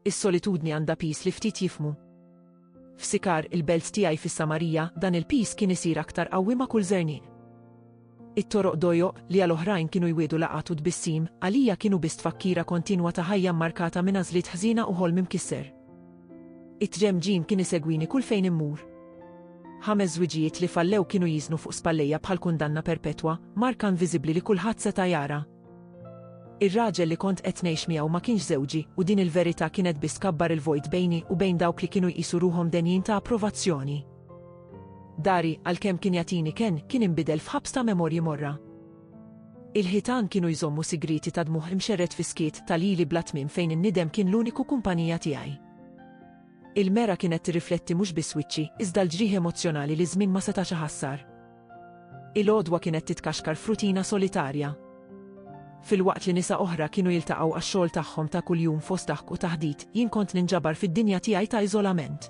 Is-solitudni għandha piż li ftit jifhmu. F'Sikar, il-belt tiegħi fis-Samarija, dan il-piż kien isir aktar qawwi ma' kull żerniq. It-toroq dojoq, li għal oħrajn kienu jwiegħdu laqgħat u tbissim, għalija kienu biss tfakkira kontinwa ta' ħajja mmarkata minn għażliet ħżiena u ħolm imkisser. It-tġemġim kien isegwini kull fejn immur. Ħames żwiġijiet li fallew kienu jiżnu fuq spallejja bħal kundanna perpetwa, marka inviżibbli li kulħadd seta' jara. Ir-raġel li kont qed ngħix miegħu ma kienx żewġi, u din il-verità kienet biss tkabbar il-vojt bejni u bejn dawk li kienu jqisu ruħhom denjin ta' approvazzjoni. Dari, għalkemm kien jagħtini kenn, kien inbidel f'ħabs ta' memorji morra. Il-ħitan kienu jżommu sigrieti ta' dmugħ imxerred fi skiet ta' lili bla tmiem fejn in-nidem kien l-uniku kumpanija tiegħi. Il-mera kienet tirrifletti mhux biss wiċċi, iżda l-ġrieħi emozzjonali li ż-żmien ma setax iħassar. Il-għodwa kienet titkaxkar f'rutina solitarja. Filwaqt li nisa oħra kienu jiltaqgħu għax-xogħol tagħhom ta' kuljum fost daħk u taħdit, jien kont ninġabar fid-dinja tiegħi ta' iżolament.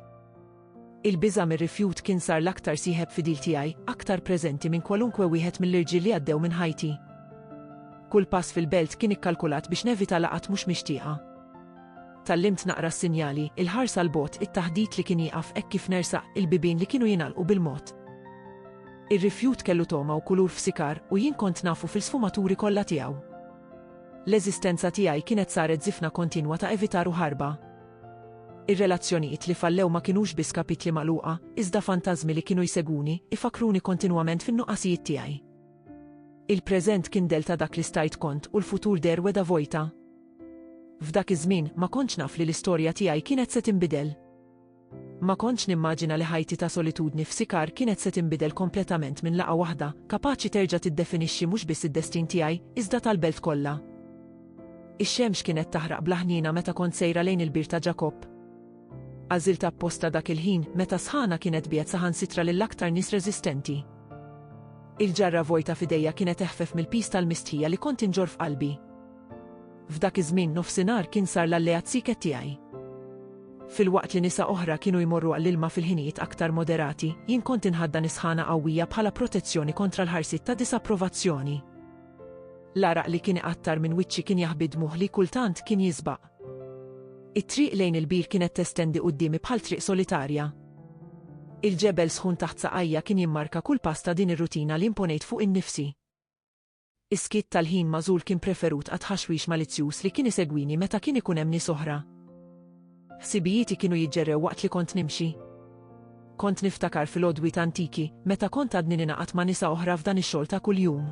Il-biża' mir-rifjut kien sar l-aktar sieħeb fidil tiegħi, aktar preżenti minn kwalunkwe wieħed mill-irġiel li għaddew minn ħajti. Kull pass fil-belt kien ikkalkulat biex nevita laqgħat mhux mixtieqa. Tgħallimt naqra s-sinjali, il-ħarsa 'l bogħod, it-taħdit li kien jieqaf hekk kif nersaq, il-bibien li kienu jingħalqu bil-mod. Ir-rifjut kellu togħma u kulur f'sikar, u jien kont nafu fil-sfumaturi kollha tiegħu. L-eżistenza tiegħi kienet saret żifna kontinwa ta' evitar u ħarba. Ir-relazzjonijiet li fallew ma kinux biss kapitli magħluqa, iżda fantażmi li kienu jsegwuni, ifakkruni kontinwament fin-nuqqasijiet tiegħi. Il-preżent kien dell ta' dak li stajt kont u l-futur deher wegħda vojta. F'dak iż-żmien ma kontx naf li l-istorja tiegħi kienet se tinbidel. Ma kontx nimmaġina li ħajti ta' solitudni f'Sikar kienet se tinbidel kompletament minn laqgħa waħda, kapaċi terġa' tiddefinixxi mhux biss id-destin tiegħi, iżda tal-belt kollha. Ix-xemx kienet taħraq bla ħniena meta kont sejra lejn il-Bir ta' Ġakobb. Għażilt apposta dak il-ħin, meta s-sħana kienet tbiegħed saħansitra lill-aktar nies reżistenti. Il-ġarra vojta f'idejja kienet eħfef mill-piż tal-mistħija li kont inġorr f'qalbi. F'dak iż-żmien nofsinhar kien sar l-alleat sieket tiegħi. Filwaqt li nisa oħra kienu jmorru għall-ilma fil-ħinijiet aktar moderati, jien kont inħaddan is-sħana qawwija bħala protezzjoni kontra l-ħarsiet ta' disapprovazzjoni. L-għaraq li kien iqattar minn wiċċi kien jaħbi d-dmugħ li kultant kien jiżbaq. It-triq lejn il-bir kienet testendi quddiemi bħal triq solitarja. Il-ġebel sħun taħt saqajja kien jimmarka kull pass ta' din ir-rutina li imponejt fuq innifsi. Is-skiet tal-ħin magħżul kien preferut għat-tħaxwix malizzjuż li kien isegwini meta kien ikun hemm nies oħra. Ħsibijieti kienu jiġġerrew waqt li kont nimxi. Kont niftakar fil-għodwiet antiki, meta kont għadni ningħaqad ma' nisa oħra f'dan ix-xogħol ta' kuljum.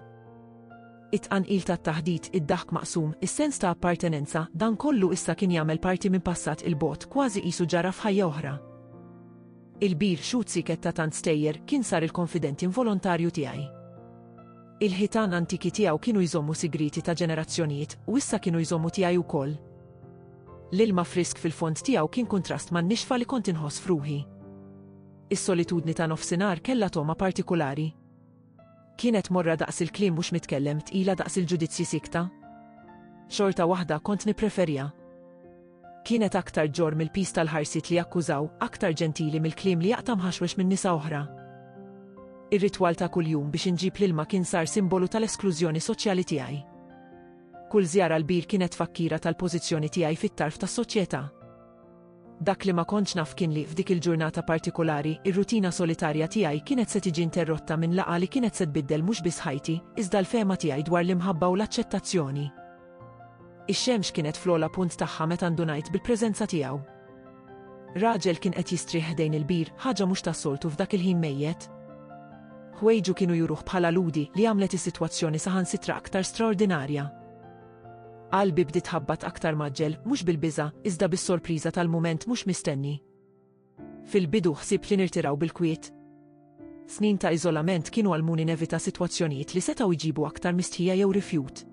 It-tqanqil tat-taħdit, id-daħk maqsum, is-sens ta' appartenenza, dan kollu issa kien jagħmel parti minn passat il-bogħod, kważi qisu ġara f'ħajja oħra. Il-bir xut siket ta' tant stejjer kien sar il-konfident involontarju tiegħi. Il-ħitan antiki tiegħu kienu jżommu sigrieti ta' ġenerazzjonijiet, u issa kienu jżommu tiegħi wkoll. L-ilma frisk fil-fond tiegħu kien kuntrast man-nixfa li kont inħoss f'ruħi. Is-solitudni ta' nofsinhar kellha togħma partikulari. Kienet morra daqs il-kliem mhux mitkellem, tqila daqs il-ġudizzji siekta. Xorta waħda kont nippreferja. Kienet aktar ġorr mill-piż tal-ħarsiet li jakkużaw, aktar ġentili mill-kliem li jaqta' mħaxwex minn nisa oħra. Ir-ritwal ta' kuljum biex inġib l-ilma kien sar simbolu tal-esklużjoni soċjali tiegħi. Kull żjara l-bir kienet tfakkira tal-pożizzjoni tiegħi fit-tarf tas-soċjetà. Dak li ma kontx naf kien li f'dik il-ġurnata partikolari, ir-rutina solitarja tiegħi kienet se tiġi interrotta minn laqgħa li kienet se tbiddel mhux biss ħajti, iżda l-fehma tiegħi dwar l-imħabba u l-aċċettazzjoni. Ix-xemx kienet fl-ogħla punt tagħha meta ndunajt bil-preżenza tiegħu. Raġel kien qed jistrieħ ħdejn il-bir, ħaġa mhux tas-soltu f'dak il-ħin mejjet. Ħwejġu kienu juruh bħala lhudi li għamlet is-sitwazzjoni saħansitra aktar straordinarja. Qalbi bdiet tħabbat aktar mgħaġġel, mhux bil-biża', iżda bis-sorpriża tal-mument mhux mistenni. Fil-bidu ħsibt li nirtiraw bil-kwiet. Snin ta' iżolament kienu għallmuni nevita sitwazzjonijiet li setgħu jġibu aktar mistħija jew rifjut.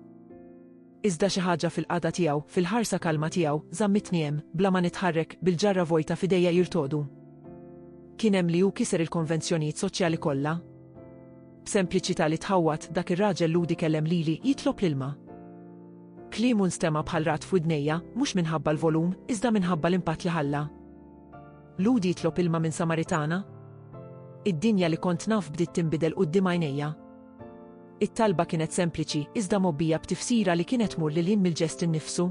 Iżda xi ħaġa fil-qagħda tiegħu, fil-ħarsa kalma tiegħu, żammitni hemm, bla ma nitħarrek, bil-ġarra vojta f'idejja jirtogħdu. Kien hemm li hu kiser il-konvenzjonijiet soċjali kollha. B'sempliċità li tħawwad, dak ir-raġel lhudi kellem lili, jitlob l-ilma. Kliemu nstema' bħal ragħad f'widnejja, mhux minħabba l-volum, iżda minħabba l-impatt li ħalla. Lhud jitlob ilma minn Samaritana? Id-dinja li kont naf bdiet tinbidel quddiem għajnejja. It-talba kienet sempliċi, iżda mgħobbija b'tifsira li kienet tmur lil hinn mill-ġest innifsu.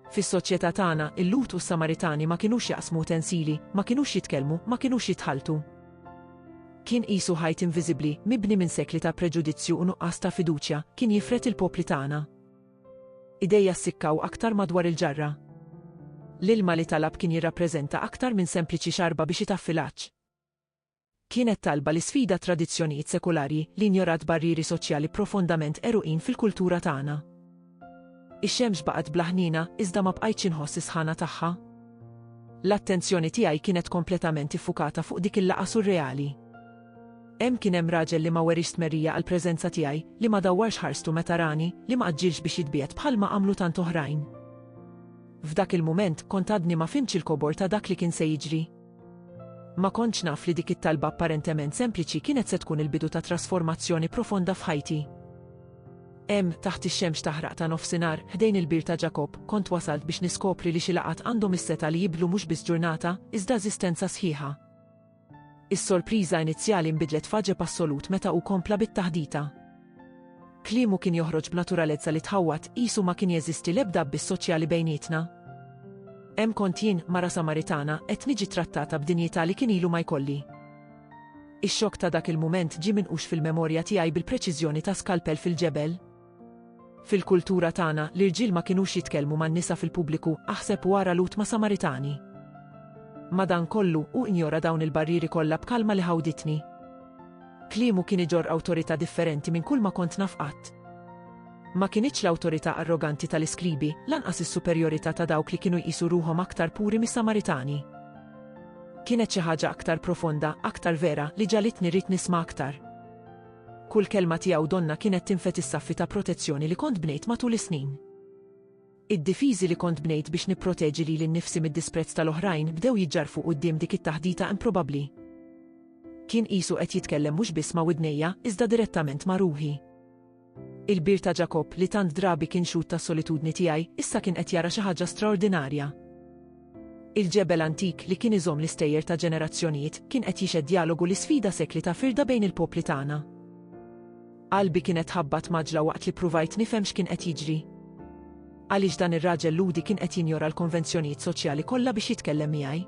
Fis-soċjetà tagħna, il-Lhud u s-Samaritani ma kinux jaqsmu utensili, ma kinux jitkellmu, ma kinux jitħalltu. Kien qisu ħajt inviżibbli, mibni minn sekli ta' preġudizzju u nuqqas ta' fiduċja, kien jifred il-popli tagħna. Idejja ssikkaw aktar madwar il-ġarra. L-ilma li talab kien jirrappreżenta aktar minn sempliċi xarba biex itaffi l-għatx. Kienet talba li sfida tradizzjonijiet sekulari li injorat barrieri soċjali profondament għeruqin fil-kultura tagħna. Ix-xemx baqgħet bla ħniena iżda ma bqajtx inħoss is-sħana tagħha. L-attenzjoni tiegħi kienet kompletament iffukata fuq dik il-laqgħa surreali. Hemm kien hemm raġel li ma weriex stmerrija għall-preżenza tiegħi, li ma dawwarx ħarstu meta rani, li ma għaġġilx biex jitbiegħed bħalma għamlu tant oħrajn. F'dak il-mument, kont għadni ma fhimtx il-kobor ta' dak li kien se jiġri. Ma kontx naf li dik it-talba apparentement sempliċi kienet se tkun il-bidu ta' trasformazzjoni profonda f'ħajti. Hemm, taħt ix-xemx taħraq ta' nofsinhar, ħdejn il-Bir ta' Ġakob, kont wasalt biex niskopri li xi laqgħat għandhom is-setgħa li jibdlu mhux biss ġurnata, iżda eżistenza sħiħa. Is-sorpriża inizjali nbidlet f'għaġeb assolut meta hu kompla bit-taħdita. Kliemu kien joħroġ b'naturalezza li tħawwad, qisu ma kien jeżisti l-ebda abbiss soċjali bejnietna. Hemm kont jien, mara Samaritana, qed niġi ttrattata b'dinjità li kien ilu ma jkolli. Ix-xokk ta' dak il-mument ġie minqux fil-memorja tiegħi bil-preċiżjoni ta' skalpell fil-ġebel. Fil-kultura tagħna, l-irġiel ma kinux jitkellmu man-nisa fil-pubbliku, aħseb u ara l-hudma Samaritani. Madankollu, hu injora dawn il-barrieri kollha b'kalma li ħawditni. Kliemu kien iġorr awtorità differenti minn kulma kont naf qatt. Ma kinitx l-awtorità arroganti tal-iskribi, lanqas is-superjorità ta' dawk li kienu jqisu ruħhom aktar puri mis-Samaritani. Kienet xi ħaġa aktar profonda, aktar vera, li ġagħlitni rrid nisma' aktar. Kull kelma tiegħu donnha kienet tinfed is-saffi ta' protezzjoni li kont bnejt matul is-snin. Id-difiżi li kont bnejt biex nipproteġi lili nnifsi mid-disprezz tal-oħrajn bdew jiġġarrfu quddiem dik it-taħdita improbabbli. Kien qisu qed jitkellem mhux biss ma' widnejja, iżda direttament ma' ruħi. Il-bir ta' Ġakobb, li tant drabi kien xhud tas-solitudni tiegħi, issa kien qed jara xi ħaġa straordinarja. Il-ġebel antik li kien iżomm l-istejjer ta' ġenerazzjonijiet kien qed jixhed djalogu li sfida sekli ta' firda bejn il-popli tagħna. Qalbi kienet tħabbat m'għaġla waqt li ppruvajt nifhem x'kien qed jiġri. Għaliex dan ir-raġel Lhudi kien qed jinjora l-konvenzjonijiet soċjali kollha biex jitkellem miegħi?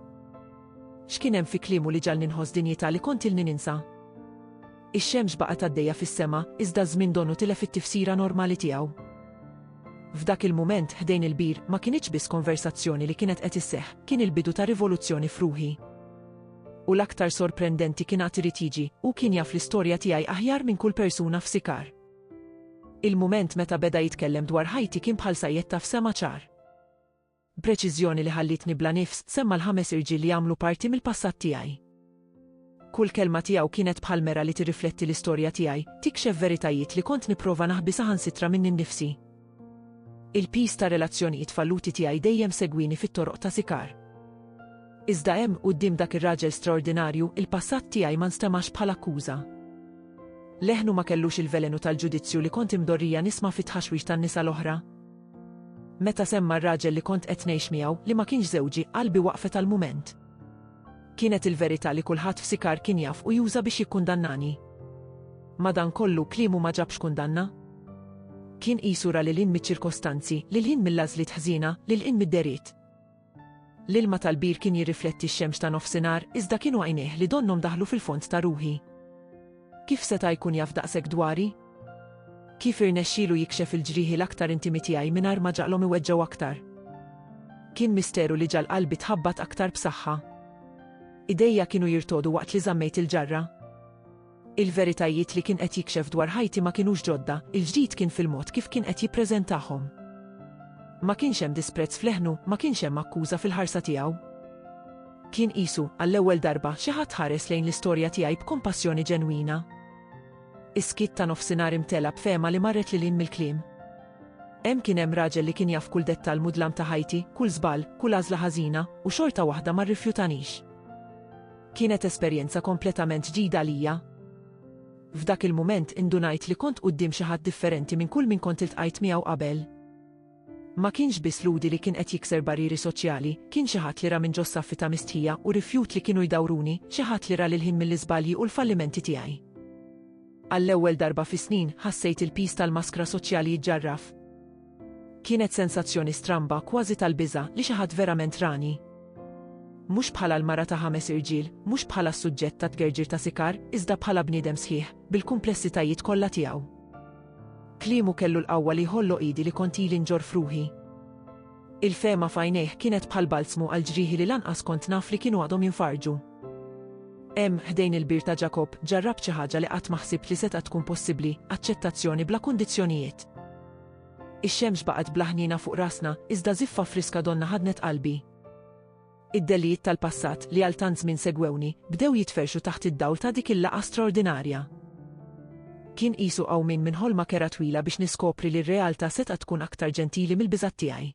X'kien hemm fi kliemu li ġagħalni nħoss dinjità li kont ilni ninsa? Ix-xemx baqgħet għaddejja fis-sema, iżda ż-żmien donu tilef it-tifsira normali tiegħu. F'dak il-mument, ħdejn il-bir, ma kinitx biss konversazzjoni li kienet qed isseħħ, kien il-bidu ta' rivoluzzjoni f'ruħi. U l-aktar sorprendenti kien għad irid jiġi, hu kien jaf l-istorja tiegħi aħjar minn kull persuna f'Sikar. Il-mument meta beda jitkellem dwar ħajti kien bħal sa jettaf sema ċar. B'preċiżjoni li ħallietni bla nifs semma' l-ħames irġiel li għamlu parti mill-passat tiegħi. Kull kelma tiegħu kienet bħal mera li tirrifletti l-istorja tiegħi, tikxef veritajiet li kont nipprova naħbi saħansitra minni nnifsi. Il-piż ta' relazzjonijiet falluti tiegħi dejjem segwini fit-toroq ta' Sikar. Iżda hemm, quddiem dak ir-raġel straordinarju, il-passat tiegħi ma nstemax bħala akkuża. Leħnu ma kellux il-velenu tal-ġudizzju li kont imdorrija nisma' fit-tħaxwix tan-nisa l-oħra. Meta semma r-raġel li kont qed ngħix miegħu, li ma kienx żewġi, qalbi waqfet għal mument. Kienet il-verità li kulħadd f'Sikar kien jaf u juża biex jikkundannani. Madankollu, kliemu ma ġabx kundanna. Kien qisu ra lil hinn miċ-ċirkostanzi, lil hinn mill-għażliet ħżiena, lil hinn mid-deriet. L-ilma tal-bir kien jirrifletti x-xemx ta' nofsinhar, iżda kienu għajnejh li donnhom daħlu fil-fond ta' ruħi. Kif seta' jkun jaf daqshekk dwari? Kif irnexxielu jikxef il-ġrieħi l-aktar intimi tiegħi mingħajr ma ġagħlhom iweġġgħu aktar? Kien misteru li ġagħal qalbi tħabbat aktar b'saħħa. Idejja kienu jirtogħdu waqt li żammejt il-ġarra. Il-veritajiet li kien qed jikxef dwar ħajti ma kinux ġodda, il-ġdid kien fil-mod kif kien qed jippreżentahom. Ma kienx hemm disprezz f'leħnu, ma kienx hemm akkuża fil-ħarsa tiegħu. Kien qisu, għall-ewwel darba, xi ħadd ħares lejn l-istorja tiegħi b'kompassjoni ġenwina. Is-skiet ta' nofsinhar imtela b'fehma li marret lil hinn mill-kliem. Hemm kien hemm raġel li kien jaf kull dettall mudlam ta' ħajti, kull żball, kull għażla ħażina, u xorta waħda ma rrifjutanix. Kienet esperjenza kompletament ġdida għalija. F'dak il-mument indunajt li kont quddiem xi ħadd differenti minn kull min kont iltqajt miegħu qabel. Ma kienx biss Ludi li kien qed jikser barrieri soċjali, kien xi ħadd li ra minn ġos-saffi ta' mistħija u rifjut li kienu jdawruni, xi ħadd li ra lil ħin mill-iżbalji u l-fallimenti tiegħi. Għall-ewwel darba fi snin, ħassejt il-piż tal-maskra soċjali jiġġarraf. Kienet sensazzjoni stramba, kważi tal-biża', li xi ħadd verament rani. Mhux bħala l-mara ta' ħames irġiel, mhux bħala s-suġġett ta' tgerġir ta' sikar, iżda bħala bniedem sħiħ, bil-kumplessitajiet kollha tiegħu. Kliemu kellu l-qawwa li jħolloq idi li kont ili nġorr f'ruħi. Il-fehma f'għajnejh kienet bħal balzmu għal ġrieħi li lanqas kont naf li kienu għadhom jinfarġu. Hemm, ħdejn il-bir ta' Ġakobb, ġarrabt xi ħaġa li qatt ma ħsibt li setgħet tkun possibbli, aċċettazzjoni bla kundizzjonijiet. Ix-xemx baqgħet bla ħniena fuq rasna, iżda żiffa friska donna ħadnet qalbi. Id-delijiet tal-passat, li għal tant żmien segwewni, bdew jitferrxu taħt id-dawl ta' dik il-laqgħa straordinarja. Kien qisu qawmien minn ħolma kerha twila biex niskopri li r-realtà setgħet tkun aktar ġentili mill-biżgħat tiegħi.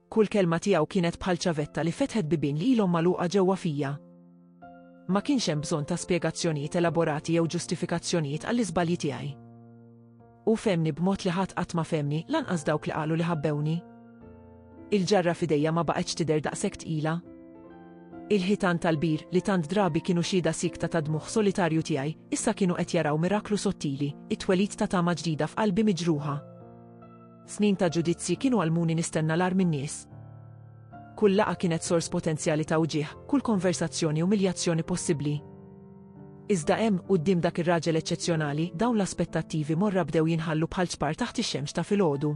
Kull kelma tiegħu kienet bħal ċavetta li fetħet bibien li ilhom magħluqa ġewwa fija. Ma kienx hemm bżonn ta' spjegazzjonijiet elaborati jew ġustifikazzjonijiet għall-iżbalji tiegħi. Hu fehmni b'mod li ħadd qatt ma fehmni, lanqas dawk li qalu li ħabbewni. Il-ġarra f'idejja ma baqgħetx tidher daqshekk tqila. Il-ħitan tal-bir, li tant drabi kienu xhieda siekta tad-dmugħ solitarju tiegħi, issa kienu qed jaraw miraklu sottili, it-twelid ta' tama ġdida f'qalbi miġruħa. Snin ta' ġudizzji kienu għallmuni nistenna l-agħar min-nies. Kull laqgħa kienet sors potenzjali ta' wġigħ, kull konversazzjoni umiljazzjoni possibbli. Iżda hemm, quddiem dak ir-raġel eċċezzjonali, dawn l-aspettattivi morra bdew jinħallu bħal ċpar taħt ix-xemx ta' filgħodu.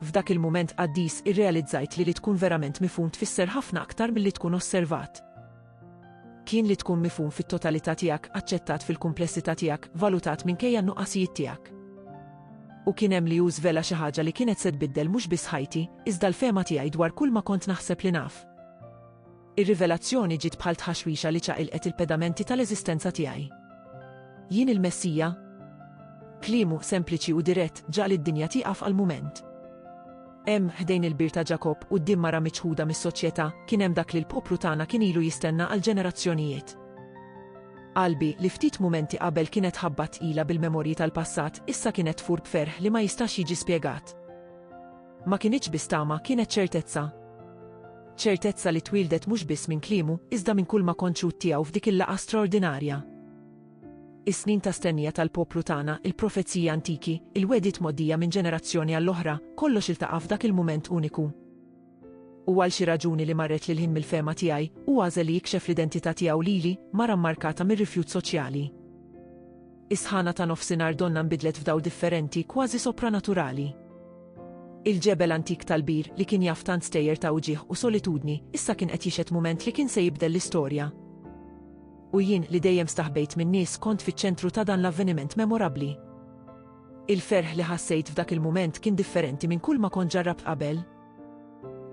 F'dak il-mument qaddis irrealizzajt li li tkun verament mifhum tfisser ħafna aktar milli tkun osservat. Kien li tkun mifhum fit-totalità tiegħek, aċċettat fil-kumplessità tiegħek, valutat minkejja n-nuqqasijiet tiegħek. U kien hemm li hu żvela xi ħaġa li kienet se tbiddel mhux biss ħajti, iżda l-fehma tiegħi dwar kull ma kont naħseb li naf. Ir-rivelazzjoni ġiet bħal tħaxwixa li ċaqilqet il-pedamenti tal-eżistenza tiegħi. Jien il-Messija? Kliemu, sempliċi u dirett, ġagħal id-dinja tieqaf għal mument. Hemm, ħdejn il-bir ta' Ġakobb, quddiem mara miċħuda mis-soċjetà, kien hemm dak li l-poplu tagħna kien ilu jistenna għal ġenerazzjonijiet. Qalbi, li ftit mumenti qabel kienet ħabba tqila bil-memorji tal-passat, issa kienet tfur b'ferħ li ma jistax jiġi spjegat. Ma kinitx biss tama, kienet ċertezza. Ċertezza li twieldet mhux biss minn kliemu, iżda minn kulma konċut tiegħu f'dik il-laqgħa straordinarja. Is-snin ta' stennija tal-poplu tagħna, il-profeziji antiki, il-wegħdiet mgħoddija minn ġenerazzjoni għall-oħra, kollox iltaqa' f'dak il-mument uniku. U għal xi raġuni li marret lil hinn mill-fehma tiegħi, hu għażel li jikxef l-identità tiegħu lili, mara mmarkata mir-rifjut soċjali. Is-sħana ta' nofsinhar donnha nbidlet f'dawl differenti, kważi sopranaturali. Il-ġebel antik tal-bir, li kien jaf tant stejjer ta' uġigħ u solitudni, issa kien qed jixhed mument li kien se jibdel l-istorja. U jien, li dejjem staħbejt min-nies, kont fiċ-ċentru ta' dan l-avveniment memorabbli. Il-ferħ li ħassejt f'dak il-mument kien differenti minn kulma kont ġarrabt qabel.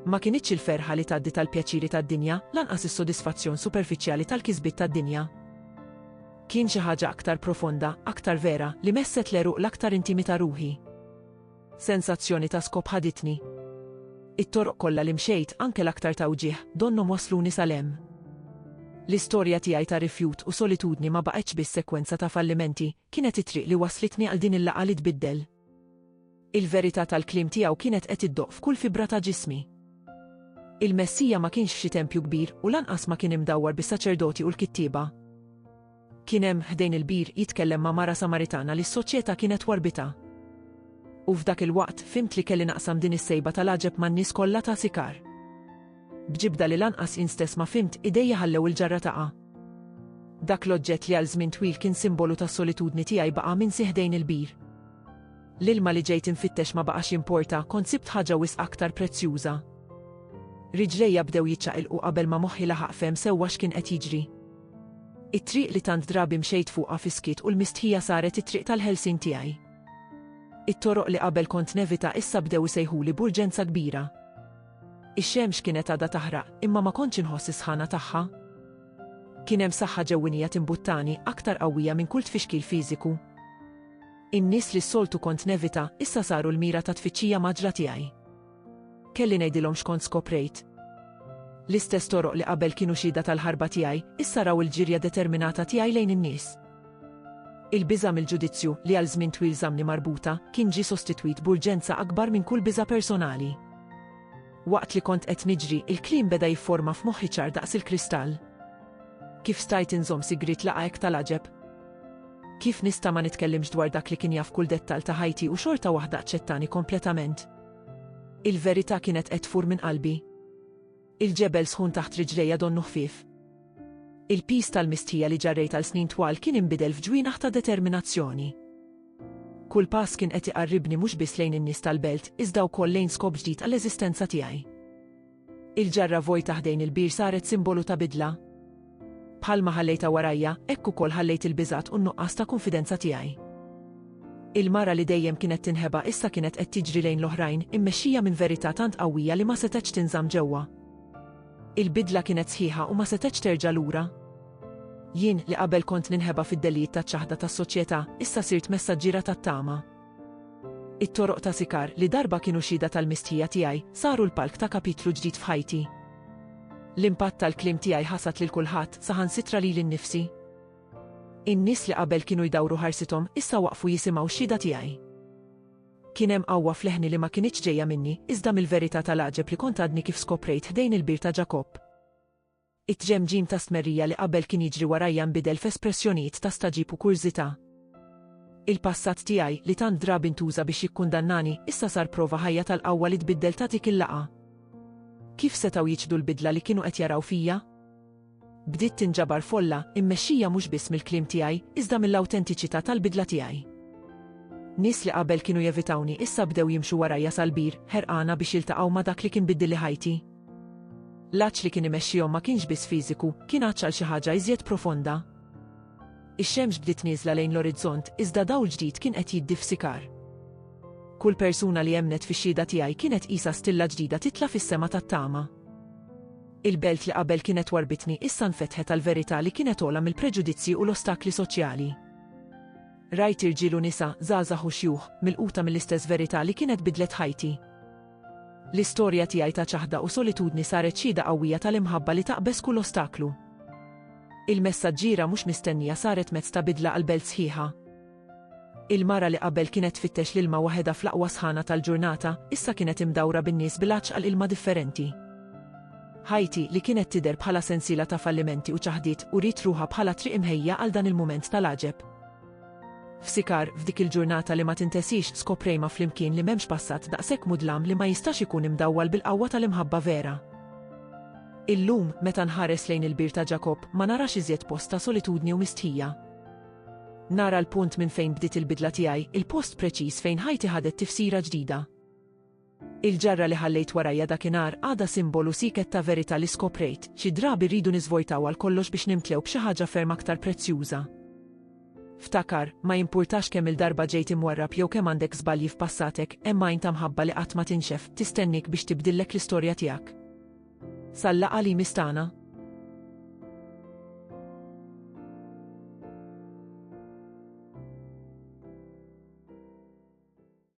Ma kinitx il-ferħa li tgħaddi tal-pjaċiri tad-dinja, lanqas is-sodisfazzjon superfiċjali tal-kisbiet tad-dinja. Kien xi ħaġa aktar profonda, aktar vera, li messet l-għeruq l-aktar intimi ta' ruħi. Sensazzjoni ta' skop ħaditni. It-toroq kollha li mxejt, anke l-aktar ta' wġigħ, donnhom wassluni sal hemm. L-istorja tiegħi ta' rifjut u solitudni ma baqgħetx biss sekwenza ta' fallimenti, kienet it-triq li wasslitni għal din il-laqgħa li tbiddel. Il-verità tal-kliem tiegħu kienet qed iddoqq f'kull fibra ta' ġismi. Il-Messija ma kienx f'xi tempju kbir u lanqas ma kien imdawwar bis-saċerdoti u l-kittieba. Kien hemm, ħdejn il-bir, jitkellem ma' mara Samaritana li s-soċjetà kienet warbitha. U f'dak il-waqt, fhimt li kelli naqsam din is-sejba tal-għaġeb man-nies kollha ta' Sikar. B'ġibda li lanqas jien stess ma fhimt, idejja ħallew il-ġarra taqa'. Dak l-oġġett li għal żmien twil kien simbolu tas-solitudni tiegħi baqa' minsi ħdejn il-bir. L-ilma li ġejt infittex ma baqax jimporta, kont sibt ħaġa wisq aktar prezzjuża. Riġlejja bdew jiċċaqilqu qabel ma moħħi laħaq fehem sewwa x'kien qed jiġri. It-triq li tant drabi mxejt fuqha fiskiet u l-mistħija saret it-triq tal-ħelsien tiegħi. It-toroq li qabel kont nevita issa bdew isejħuli b'urġenza kbira. Ix-xemx kienet għadha taħraq, imma ma kontx inħoss is-sħana tagħha. Kien hemm saħħa ġewwinija timbuttani, aktar qawwija minn kull tfixkil fiżiku. In-nies li s-soltu kont nevita, issa saru l-mira ta' tfittxija mgħaġġla tiegħi. Kelli ngħidilhom x'kont skoprejt. L-istess toroq li qabel kienu xhieda tal-ħarba tiegħi, issa raw il-ġirja determinata tiegħi lejn in-nies. Il-biża' mill-ġudizzju, li għal żmien twil żammni marbuta, kien ġie sostitwit b'urġenza akbar minn kull biża' personali. Waqt li kont qed niġri, il-kliem beda jifforma f'moħħi ċar daqs il-kristall. Kif stajt inżomm sigriet laqgħa hekk tal-għaġeb? Kif nista' ma nitkellimx dwar dak li kien jaf kull dettall ta' ħajti u xorta waħda aċċettani kompletament? Il-verità kienet qed tfur minn qalbi. Il-ġebel sħun taħt riġlejja donnu ħfief. Il-piż tal-mistħija li ġarrejt għal snin twal kien inbidel f'ġwienaħ ta' determinazzjoni. Kull pass kien qed iqarribni mhux biss lejn in-nies tal-belt, iżda wkoll lejn skop ġdid għall-eżistenza tiegħi. Il-ġarra vojta ħdejn il-bir saret simbolu ta' bidla. Bħalma ħallejtha warajja, hekk ukoll ħallejt il-biżgħat u n-nuqqas ta' kunfidenza tiegħi. Il-mara li dejjem kienet tinħeba issa kienet qed tiġri lejn l-oħrajn, immexxija minn verità tant qawwija li ma setgħetx tinżamm ġewwa. Il-bidla kienet sħiħa u ma setgħetx terġa' lura. Jien, li qabel kont ninħeba fid-dellijiet taċ-ċaħda tas-soċjetà, issa sirt messaġġiera tat-tama. It-toroq ta' Sikar, li darba kienu xhieda tal-mistħija tiegħi, saru l-palk ta' kapitlu ġdid f'ħajti. L-impatt tal-kliem tiegħi ħasad lil kulħadd, saħansitra lili nnifsi. In-nies li qabel kienu jdawru ħarsithom, issa waqfu jisimgħu x-xhieda tiegħi. Kien hemm qawwa f'leħni li ma kinitx ġejja minni, iżda mill-verità tal-għaġeb li kont għadni kif skoprejt ħdejn il-bir ta' Ġakobb. It-tġemġim ta' stmerrija li qabel kien jiġri warajja nbidel f'espressjonijiet ta' stagħġib u kurżità. Il-passat tiegħi, li tant drabi ntuża biex jikkundannani, issa sar prova ħajja tal-qawwa li tbiddel ta' dik il-laqgħa. Kif setgħu jiċħdu l-bidla li kienu qed jaraw fija? Bdiet tinġabar folla, immexxija mhux biss mill-kliem tiegħi, iżda mill-awtentiċità tal-bidla tiegħi. Nies li qabel kienu jevitawni issa bdew jimxu warajja sal-bir, ħerqana biex jiltaqgħu ma' dak li kien biddilli ħajti. L-għatx li kien imexxihom ma kienx biss fiżiku, kien għatx għal xi ħaġa iżjed profonda. Ix-xemx bdiet nieżla lejn l-orizzont, iżda dawl ġdid kien qed jiddi f'sikar. Kull persuna li emmnet fix-xhieda tiegħi kienet qisha stilla ġdida titla' fis-sema tat-tama. Il-belt li qabel kienet warbitni issa nfetħet għal verità li kienet ogħla mill-preġudizzji u l-ostakli soċjali. Rajt irġiel u nisa, żgħażagħ u xjuħ, milquta mill-istess verità li kienet bidlet ħajti. L-istorja tiegħi ta' ċaħda u solitudni saret xhieda qawwija tal-imħabba li taqbeż kull ostaklu. Il-messaġġiera mhux mistennija saret mezz ta' bidla għall-belt sħiħa. Il-mara li qabel kienet tfittex l-ilma waħedha fl-aqwa sħana tal-ġurnata, issa kienet imdawra bin-nies bil-għatx għal ilma differenti. Ħajti, li kienet tidher bħala sensiela ta' fallimenti u ċaħdiet, uriet ruħha bħala triq imħejja għal dan il-mument tal-għaġeb. F'Sikar, f'dik il-ġurnata li ma tintesiex, skoprejma flimkien li m'hemmx passat daqshekk mudlam li ma jistax ikun imdawwal bil-qawwa tal-imħabba vera. Illum, meta nħares lejn il-bir ta' Ġakobb, ma narax iżjed post ta' solitudni u mistħija. Nara l-punt minn fejn bdiet il-bidla tiegħi, il-post preċiż fejn ħajti ħadet tifsira ġdida. Il-ġarra li ħallejt warajja dakinhar għadha simbolu sieket ta' verità li skoprejt, xi drabi rridu niżvojtaw għal kollox biex nimtlew b'xi ħaġa ferm aktar prezzjuża. Ftakar, ma jimpurtax kemm-il darba ġejt imwarrab jew kemm għandek żbalji f'passatek, hemm għajn ta' mħabba li qatt ma tinxef, tistenniek biex tibdillek l-istorja tiegħek. Sal-laqgħa li jmiss tagħna.